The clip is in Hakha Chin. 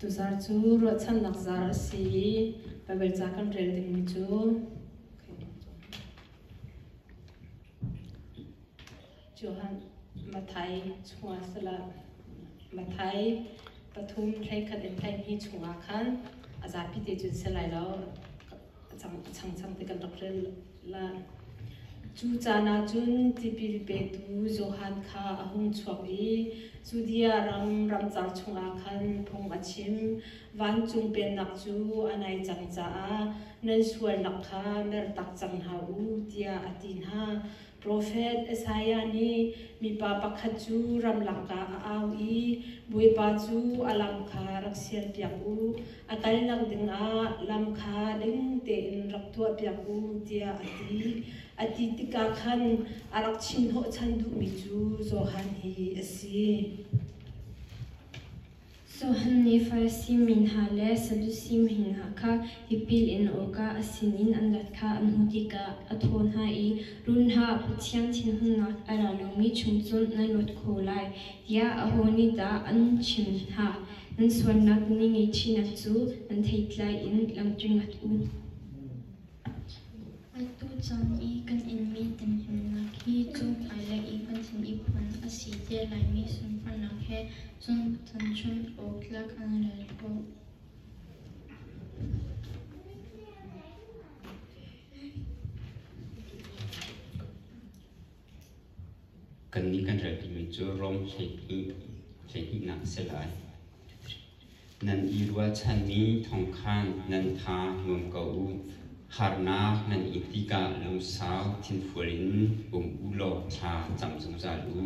Tuzar cu ruahchannak zar a si i Baibal ca kan rel dingmi cu Johan Mathai chungah salah Mathai pathum thleikhat in thleihmi chungah khan a zapi te cun si lai lo a chang chang te kan rak rel la. Cu caan ah cun tipil petu Johan kha a hung chuak i Judea ram ramcar chungah khan phung a chim. Vancung Pennak cu a nai cang caah nan sualnak kha mertak cang hna u tiah a ti hna. Profet Isaiah nih mipa pakhat cu ramlangka a au i Bawipa cu a lam kha rak sialpiak u, a kalnak dingah lam kha ding tein rak tuahpiak u tiah a ti. A ti tikah khan a rak chimhnawhchan duhmi cu Johan hi a si. Johan nih Farasi mi hna le Sadusi mi hna kha tipil in awkah a sinin an rat kha an hmuh tikah a thaw hna i, Run hlah, Pathian thinhunnak a ra lomi chung cun nan luat kho lai, tiah aho nih dah an chim hna? Nan sualnak na ngei ṭhinak cu nan theitlai in langṭing rat u. Atu caan i kan inmi ttemhlennak hi June hmailei i kan thlen i phuan a si te laimi sunparnak he cun tuanchun awk tlak an rel ko. Kannih kan ral pimi cu Rom hleihnihnak a si lai. Nan i ruahchanmi thawng khan nan tha nuam ko u. Harnak nan in tikah lungsau thinfual in um u law thla cam zungzal u.